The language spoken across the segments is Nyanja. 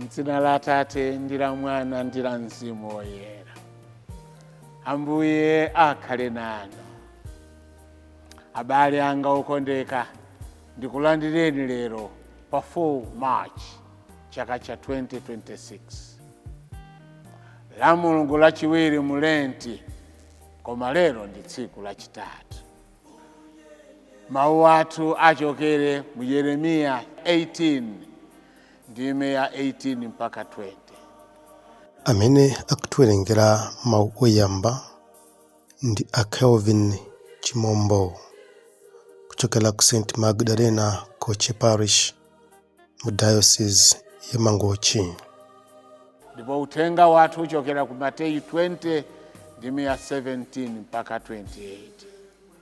mdzina la atate ndi la mwana ndi la mzimu woyera ambuye akhale nanu abale anga okondeka ndikulandireni lero pa 4 march chaka cha 2026 la mulungu lachiwiri mu lenti koma lero ndi tsiku lachitatu Mawu athu achokere mu Yeremiya 18 ndime ya 18 mpaka 20. amene akutiwerengera mawu oyamba ndi a kelvin chimombo kuchokera ku st magdalena koche parish mu diocese ya mangochi ndipo uthenga wathu uchokera ku mateyu 20 ndime ya 17 mpaka 28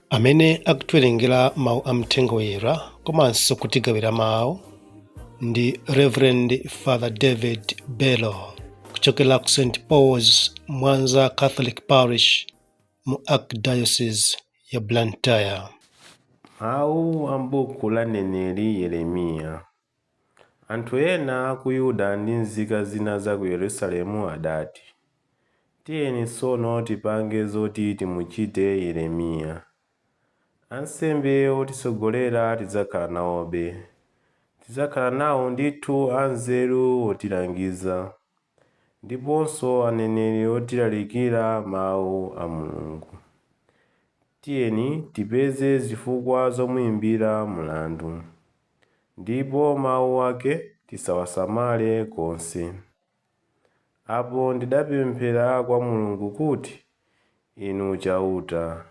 amene akutiwerengera mawu a mthenga woyera komanso kutigawira mawu ndi reverend father david bello kuchokera ku st pauls mwanza catholic parish mu archdiocese ya Blantyre. Mawu a m'buku la mneneri Yeremiya. Anthu ena a ku Yuda ndi nzika zina za ku Yerusalemu adati, Tiyeni tsono tipange zoti timuchite Yeremiya. Ansembe otitsogolera tidzakhala nawobe. Tidzakhala nawo ndithu anzeru otilangiza. ndiponso aneneri otilalikira Mawu a Mulungu. Tiyeni tipeze zifukwa zomuimbira mlandu, ndipo mawu ake tisawasamale konse. Apo ndidapemphera kwa Mulungu kuti, Inu Chauta,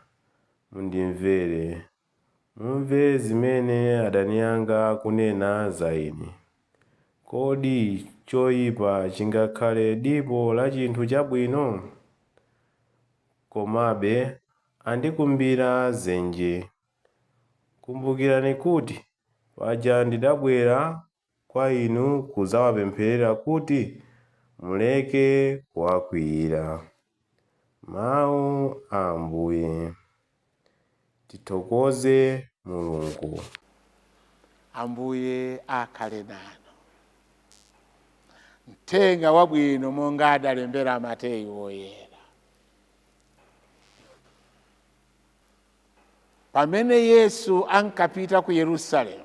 mundimvere. Mumve zimene adani anga akunena za ine. Kodi choipa chingakhale dipo la chinthu chabwino? Komabe andikumbira dzenje. Kumbukirani kuti paja ndidabwera kwa inu kudzawapempherera kuti muleke kuwakwiyira. Mawu a Ambuye. Tithokoze Mulungu. Ambuye akhale nanu. Mthenga wabwino monga adalembera Mateyu Woyera. Pamene Yesu ankapita ku Yerusalemu,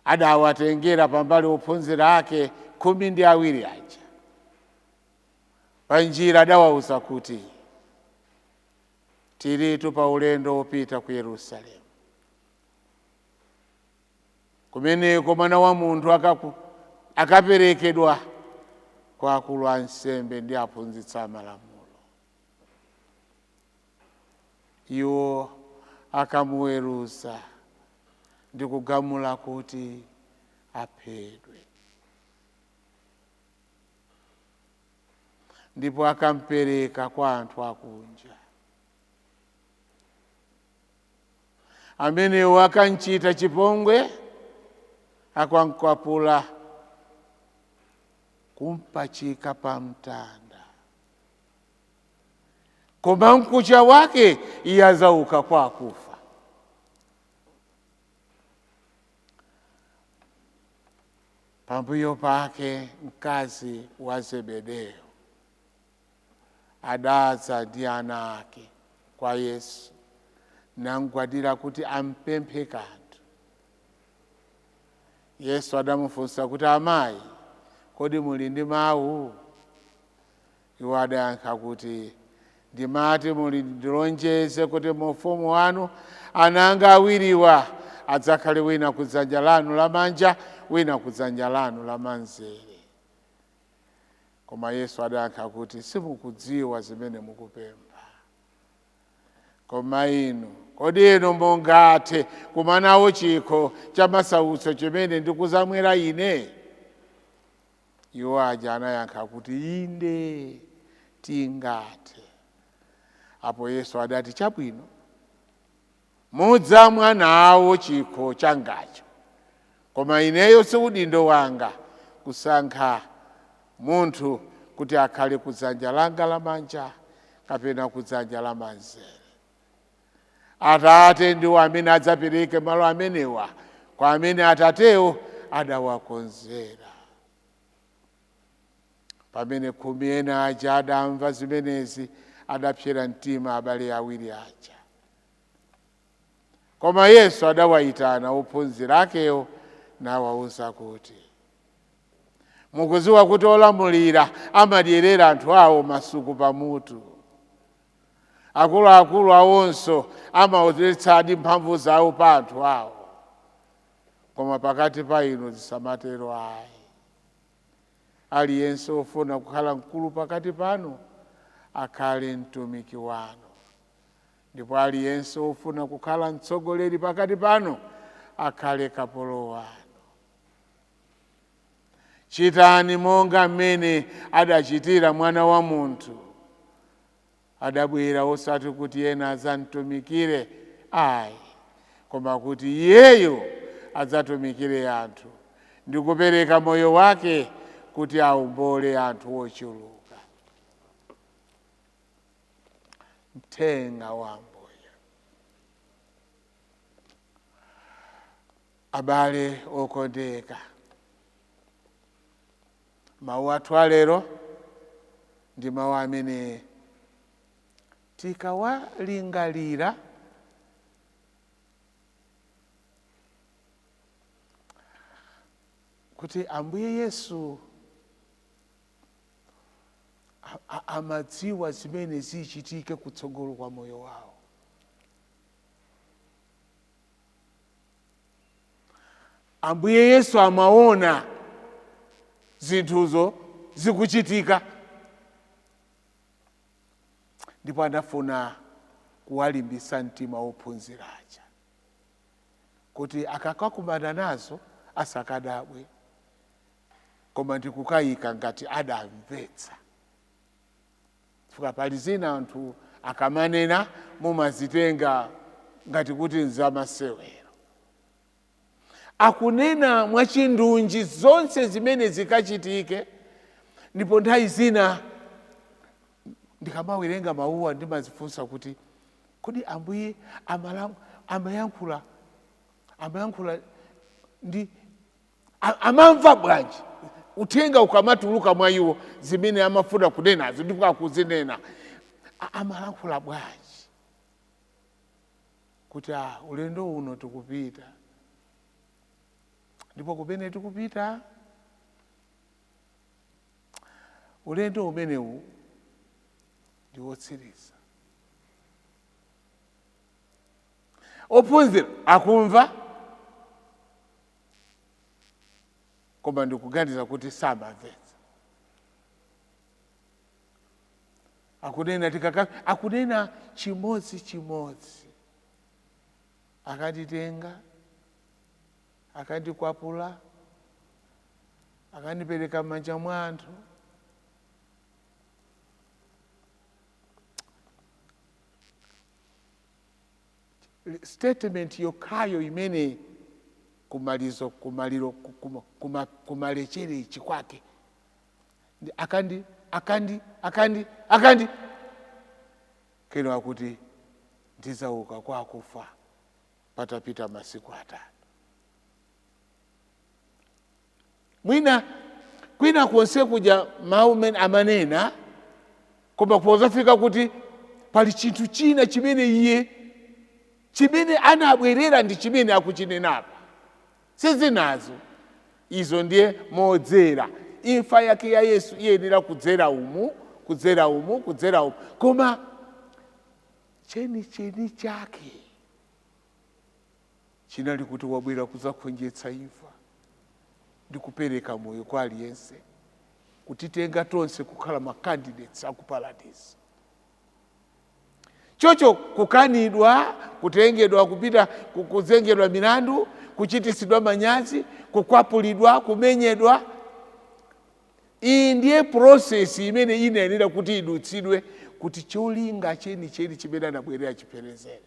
adawatengera pambali ophunzira ake khumi ndi awiri aja. Panjira adawauza kuti, tilitu pa ulendo wopita ku Yerusalemu. Kumeneko Mwana wa Munthu akaperekedwa kwa akulu ansembe ndi aphunzitsi amalamulo. iwo akamuweruza ndi kugamula kuti aphedwe ndipo akampereka kwa anthu akunja amenewo akamchita chipongwe akamkwapula kumpachika pa mtanda koma mkucha wake iye adzauka kwa akufa pambuyo pake mkazi wa zebedeyo adadza ndi ana ake kwa yesu namgwadira kuti ampemphe kanthu yesu adamufunsa kuti amayi kodi muli ndi mawu Iwo adayankha kuti, Ndimati muli ndilonjeze kuti mu ufumu wanu ana anga awiriwa adzakhale wina ku dzanja lanu lamanja wina ku dzanja lanu lamanzere. Koma Yesu adayankha kuti, simukudziwa zimene mukupempha. Koma inu, kodi inu mungathe kumwa nawo chikho cha masautso chimene ndikuzamwera ine? iwo aja anayankha kuti inde tingathe apo yesu adati chabwino mudzamwa nawo chikho changacho koma ineyo si udindo wanga kusankha munthu kuti akhale kudzanja langa lamanja kapena kudzanja lamanzere Atate ndiwo amene adzapereke malo amenewa kwa amene Atatewo adawakonzera. Pamene khumi ena aja adamva zimenezi, adapsera mtima abale awiri aja. Koma Yesu adawayitana ophunzira akewo nawawuza kuti, Mukudziwa kuti olamulira amadyerera anthu awo masuku pamutu. akuluakulu awonso amaonetsadi mphamvu zawo pa anthu awo koma pakati pa inu zisamatero ayi aliyense ofuna kukhala mkulu pakati panu akhale mtumiki wanu ndipo aliyense ofuna kukhala mtsogoleri pakati panu akhale kapolo wanu Chitani monga mmene adachitira Mwana wa Munthu. Adabwera osati kuti ena adzamtumikire ayi, koma kuti Iyeyo adzatumikire anthu ndi kupereka moyo wake kuti aombole anthu ochuluka. Mthenga wa Ambuye. Abale okondeka, mawu athu alero ndi mawu amene tikawalingalira kuti Ambuye Yesu amadziwa zimene zichitike kutsogolo kwa moyo wawo ambuye yesu amaona zinthuzo zikuchitika ndipo anafuna kuwalimbisa mtima wophunzira aja kuti akakakumana nazo asakadabwe koma ndikukayika ngati adamvetsa chifukwa pali zina anthu akamanena mumazitenga ngati kuti nzamasewero akunena mwachindunji zonse zimene zikachitike ndipo nthawi zina ndikamawerenga mawuwa ndimazifunsa kuti kodi ambuye amala- amayankhula amayankhula ndi A- amamva bwanji uthenga ukamatuluka mwa iwo zimene amafuna kunenazo ndipo akuzinena A- amalankhula bwanji kuti ah, ulendo uno tikupita ndipo kumene tikupita ulendo umenewu ndi wotsiriza ophunzira akumva koma ndikuganiza kuti samamvetsa akunena tikaka akunena chimodzi chimodzi akanditenga akandikwapula akandipereka m'manja mwa anthu statement yokhayo imene kumalizo kumaliro kuma, kuma, kumalekezero kwake ndi akandi akandi akandi akandi keno akuti ndizauka kwa akufa patapita masiku atatu mwina kwina konse kuja mawu mene amanena koma pozafika kuti pali chinthu china chimene iye chimene anabwerera ndi chimene akuchinenapa sizinazo izo ndi modzera imfa yake ya yesu iyenera kudzera umu kudzera umu kudzera umu koma chenicheni chake chinali kuti wabwera kudzakhonjetsa imfa ndi kupereka moyo kwa aliyense kutitenga tonse kukhala ma candidates aku paradise chocho kukanidwa kutengedwa kupita ku- kuzengedwa milandu kuchitisidwa manyazi kukwapulidwa kumenyedwa iyi ndiye prosesi imene inayenera kuti idutsidwe kuti cholinga chenicheni chimene anabwerera achipherezere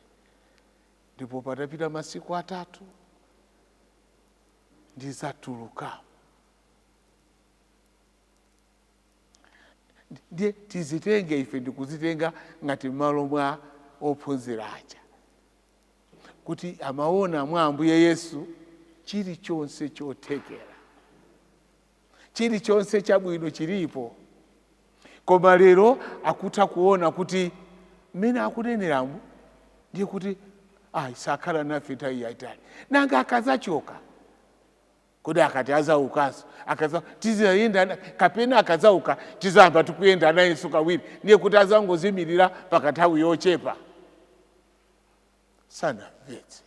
ndipo patapita masiku atatu ndidzatuluka ndiye tizitenge ife ndikuzitenga ngati m'malo mwa ophunzira aja kuti amaona mwa ambuye yesu chilichonse chothekera chilichonse chabwino chilipo koma lero akutha kuona kuti mmene akuneneramu ndiye kuti ayi sakhala nafe nthawi yaitali nanga akazachoka kodi akati azaukanso akaza tizayenda na- kapena akazauka tizayamba tikuyenda nayeso kawiri ndiye kuti azangozimirira pakanthawi yochepa sanamvetse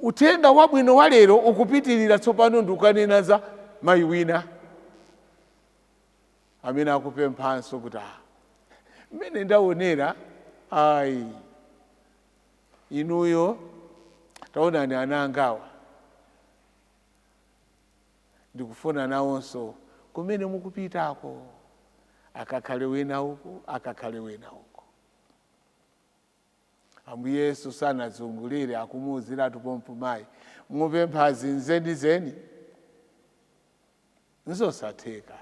uthenga wabwino wa lero ukupitirira tsopano ndikukanena za mayi wina amene akupemphanso kuti ah, mmene ndaonera ayi inuyo taonani ana angawa ndikufuna nawonso kumene mukupitako akakhale wina uku akakhale wina uku Ambuye Yesu sanazungulire akumuuziratu pompo mayi, mupemphazi zenizeni nzosatheka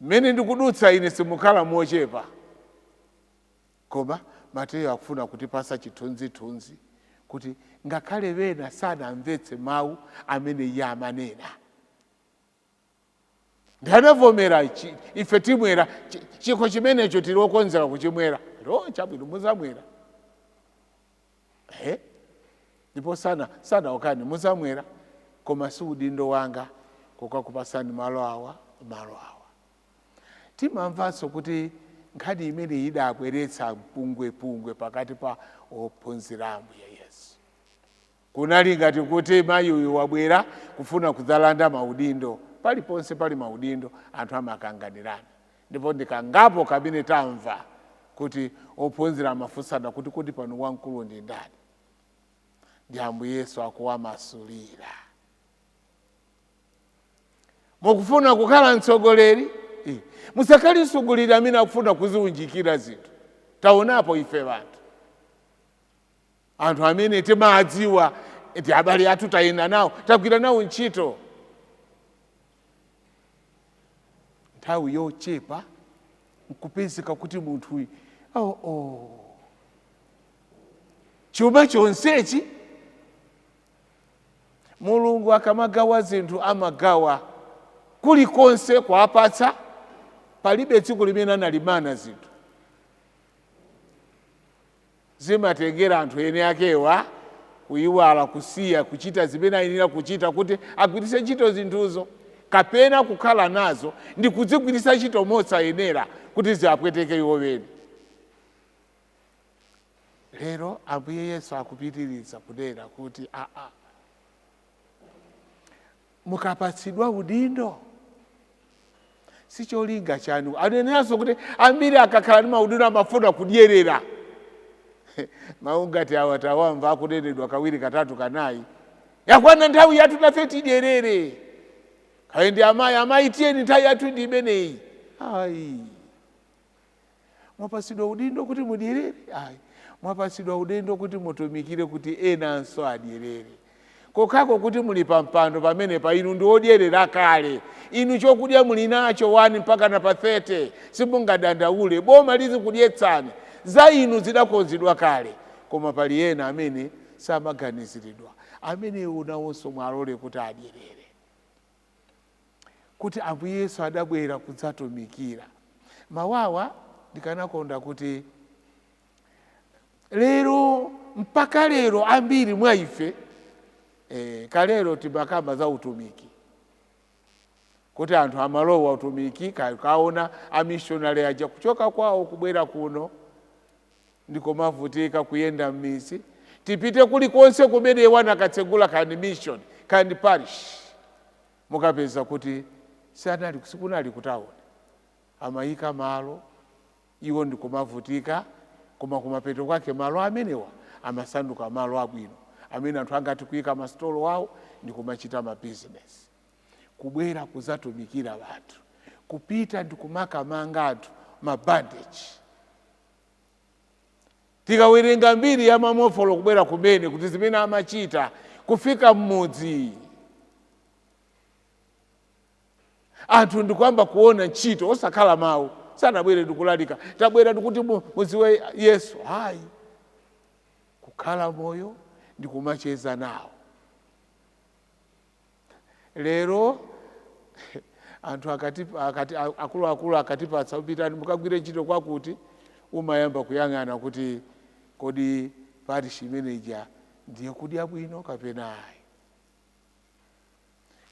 mmene ndikudutsa ine simukhala mochepa koma mateyo akufuna kutipasa chithunzithunzi kuti ngakhale wena sanamvetse mawu amene iye amanena nd'anavomera chi- ife timwera chi- chikho chimenecho tili okonzeka kuchimwera lo chabwino muzamwera Eh? ndipo sana sanawakanire muzamwera koma si udindo wanga kukakupasani malo awa malo awa timamvanso kuti nkhani imene idabweretsa mpungwepungwe pakati pa ophunzira a ambuye yesu Kunali ngati kuti mayi uyu wabwera kufuna kudzalanda maudindo. Paliponse pali maudindo, anthu amakanganirana. Ndipo ndi kangapo kamene tamva kuti ophunzira amafunsana kuti, Kodi pano wamkulu ndi ndani? Ndiye Ambuye Yesu akuwamasulira. Mukufuna kukhala mtsogoleri? Eh, Musakhale mtsogoleri amene akufuna kuziunjikira zinthu. Taonapo ife anthu. anthu amene timadziwa ndi abale athu tayenda nawo tagwira nawo ntchito nthawi yochepa nkupezeka kuti munthuyu oh, oh. chuma chonsechi mulungu akamagawa zinthu amagawa kulikonse kuwapatsa palibe tsiku limene analimana zinthu Zimatengera anthu eni akewa kuiwala, kusiya kuchita zimene ayenera kuchita kuti agwiritse ntchito zinthuzo, kapena kukhala nazo ndi kudzigwiritsa ntchito mosayenera kuti ziwapweteke iwo eni. Lero Ambuye Yesu akupitiriza kunena kuti aa, mukapatsidwa udindo si cholinga chanu aneneranso kuti ambiri akakhala ndi maudindo amafuna kudyerera mawu ngati awa tawamva akunenedwa kawiri katatu kanayi yakwana nthawi yathu nafe tidyerere kaya ndi amayi amayi tiyeni nthawi yathu ndi imeneyi ayi mwapatsidwa udindo kuti mudyerere ayi mwapatsidwa udindo kuti mutumikire kuti enanso adyerere kokhako kuti muli pampando pamenepa inu ndi odyerera kale inu chokudya muli nacho 1 mpaka na pa 30 simungadandaule boma lizikudyetsani za inu zidakonzedwa kale koma pali ena amene samaganiziridwa amene inu awonso muwalole kuti adyerere kuti Ambuye Yesu adabwera kudzatumikira. Mawawa ndikanakonda kuti lero mpaka lero ambiri mwa ife eh, kalero timakamba za utumiki kuti anthu amalowa utumiki ka- kaona amishonari aja kuchoka kwawo kubwera kuno ndikumavutika kuyenda m'midzi tipite kulikonse kumene iwo anakatsegula kaya ndi mission kaya ndi parish mukapeza kuti sanali sikunali kutawuni amayika malo iwo ndikumavutika koma kumapeto kwake malo amenewa amasanduka malo abwino amene anthu angati kuyika masitolo awo ndi kumachita mabizinesi kubwera kudzatumikira wanthu kupita ndi kumakamanga anthu mabandeji tikawerenga mbiri ya Mamonfoti kubwera kumene kuti zimene amachita kufika mmudzi anthu ndikuyamba kuona ntchito osakhala mawu sanabwere ndikulalika tabwera ndikuti mumdziwe yesu ayi kukhala moyo ndikumacheza nawo lero anthu akati, akati akuluakulu akatipatsa pitani mukagwire ntchito kwakuti umayamba kuyang'ana kuti kodi parish imeneja ndi yokudya bwino kapena ayi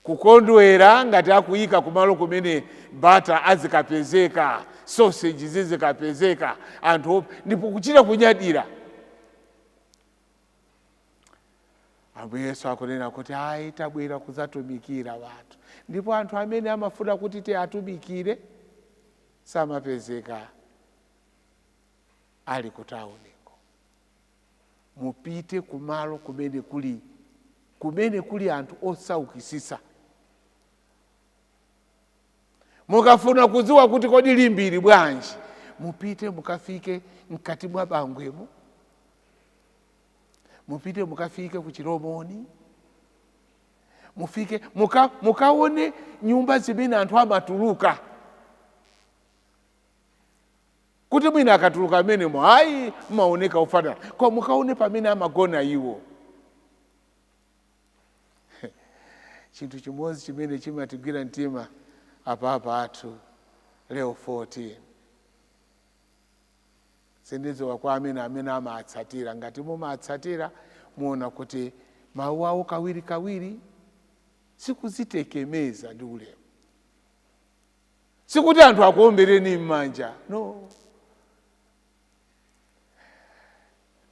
kukondwera ngati akuyika kumalo kumene bata azikapezeka soseji zizikapezeka anthu ndipo kuchita kunyadira ambuye yesu akunena kuti ayi tabwera kudzatumikira wanthu ndipo anthu amene amafuna kuti tiatumikire samapezeka ali kutauniko mupite kumalo kumene kuli kumene kuli anthu osaukitsitsa mukafuna kudziwa kuti kodi Limbe ili bwanji mupite mukafike mkati mwa Bangwemo mupite mukafike ku Chilomoni mufike muka, mukaone nyumba zimene anthu amatuluka kuti mwina akatuluka m'menemo ayi amaoneka ofanana koma mukaone pamene amagona iwo chinthu chimodzi chimene chimatigwira mtima a Papa athu Leo 14 sindidziwa kwa amene amene amatsatira ngati mumatsatira muona kuti mawu awo kawiri kawiri sikudzitekemeza ndi ulemu sikuti anthu akuombereni m'manja no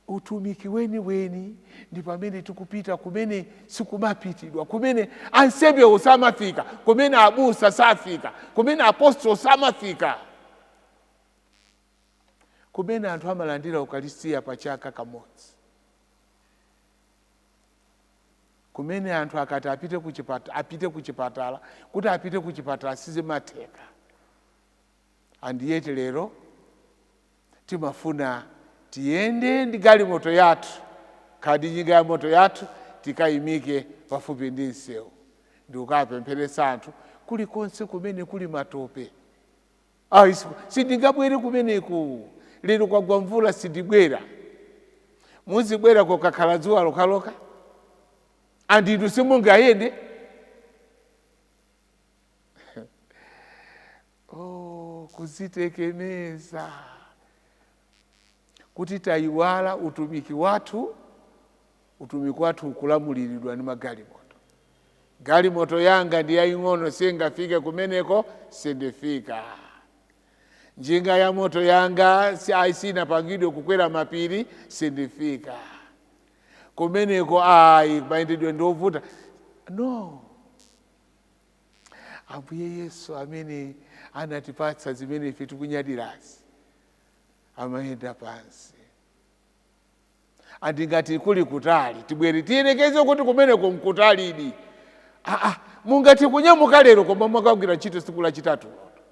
utumiki weniweni ndi pamene tikupita kumene sikumapitidwa kumene ansembewo samafika kumene abusa safika kumene apostolo samafika kumene anthu amalandira ukalistiya pa chaka kamodzi kumene anthu akati apite kuchipatala kuti apite kuchipatala sizimatheka and yet lero timafuna tiyende ndi galimoto yathu kapena njinga ya moto yathu tikayimike pafupi ndi msewu ndikukapempheretsa anthu kulikonse kumene kuli matope ayi sindingabwere kumeneku lero kwagwa mvula sindibwera muzibwera kokakhala dzuwa lokaloka and inu simungayende oh, kudzitekemeza kuti tayiwala utumiki wathu utumiki wathu ukulamuliridwa ndi magalimoto galimoto yanga ndi yaying'ono siingafike kumeneko sindifika njinga ya moto yanga siinapangidwe kukwera mapiri sindifika kumeneko ayi mayendedwe ndiovuta no ambuye yesu amene anatipatsa zimene ife tikunyadirazi amayenda pansi and ngati kuli kutali tibwere tiyerekeze kuti kumeneko nkutalidi aa mungati kunyamuka lero koma mwakagwira ntchito tsiku lachitatu loto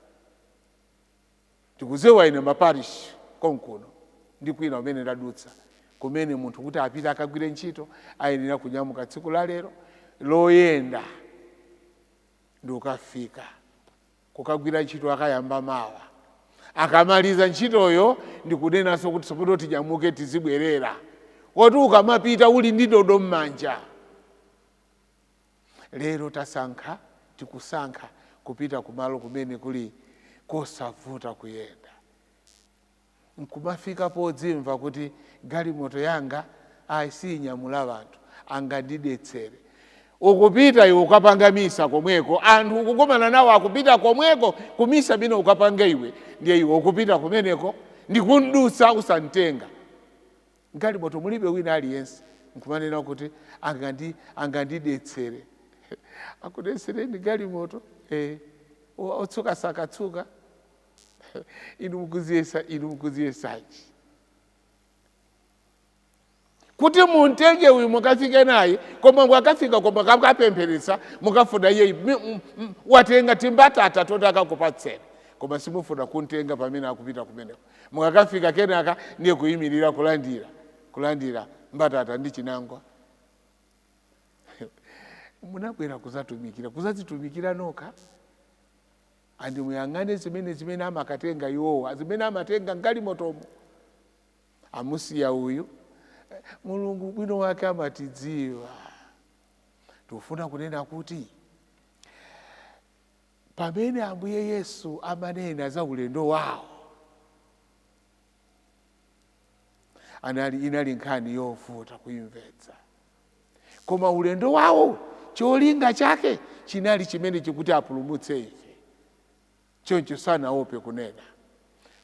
ndikudziwa ine maparish konkuno ndi kwina kumene ndadutsa kumene munthu kuti apite akagwire ntchito ayenera kunyamuka tsiku la lero loyenda ndi kukafika kukagwira ntchito akayamba mawa akamaliza ntchitoyo ndikunenanso kuti tsopano tinyamuke tizibwerera koti ukamapita uli ndi ndodo m'manja lero tasankha tikusankha kupita kumalo kumene kuli kosavuta kuyenda nkumafika podzimva kuti galimoto yanga ayi siyinyamula anthu angandidetsere ukupita iwe kukapanga misa komweko anthu ukukumana nawo akupita komweko kumisa imene ukapanga iwe ndiye iwe ukupita kumeneko ndikumdutsa osamtenga M'galimoto mulibe wina aliyense, n'kumanena kuti, Angandidetsere. Akudetsereni galimoto? Ee. Otsuka sakatsuka? Inu mukudziyesanji? Kuti mumtenge uyu mukafike naye, koma mukafika koma mukakapempheretsa, mukafuna iye watenga timbatata tonto akakupatseni, koma simufuna kumtenga pamene akupita kumeneko. mukakafika kenaka ndiye kuyimirira kulandira mbatata ndi chinangwa munabwera kuzatumikira kuzazitumikira nokha Ndiye muyang'ane zimene zimene amakatenga iwowa zimene amatenga m'galimotomo amusiya uyu Eh, mulungu ubwino wake amatidziwa tifuna kunena kuti Pamene Ambuye Yesu amanena za ulendo wawo, anali inali nkhani yovuta kuimvetsa, koma ulendo wawo cholinga chake chinali chimenechi kuti apulumutse ife. Choncho sanaope kunena.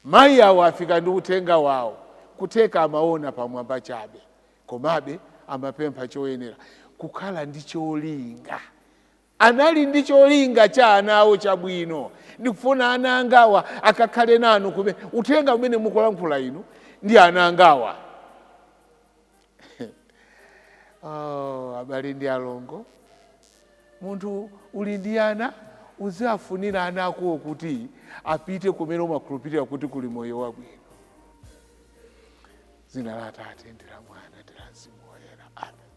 Mayi awo afika ndi uthenga wawo, kutheka amaona pamwamba chabe, komabe amapempha choyenera kukhala ndi cholinga Anali ndi cholinga cha ana awo chabwino. Ndikufuna ana angawa akakhale nanu kumene. Uthenga umene mukulankhula inu ndi ana angawa. Oh, abale ndi alongo, munthu uli ndi ana uziwafunira ana akowo kuti apite kumene umakhulupirira kuti kuli moyo wabwino. Dzina la Atate ndi la Mwana ndi la Mzimu Woyera. Amen.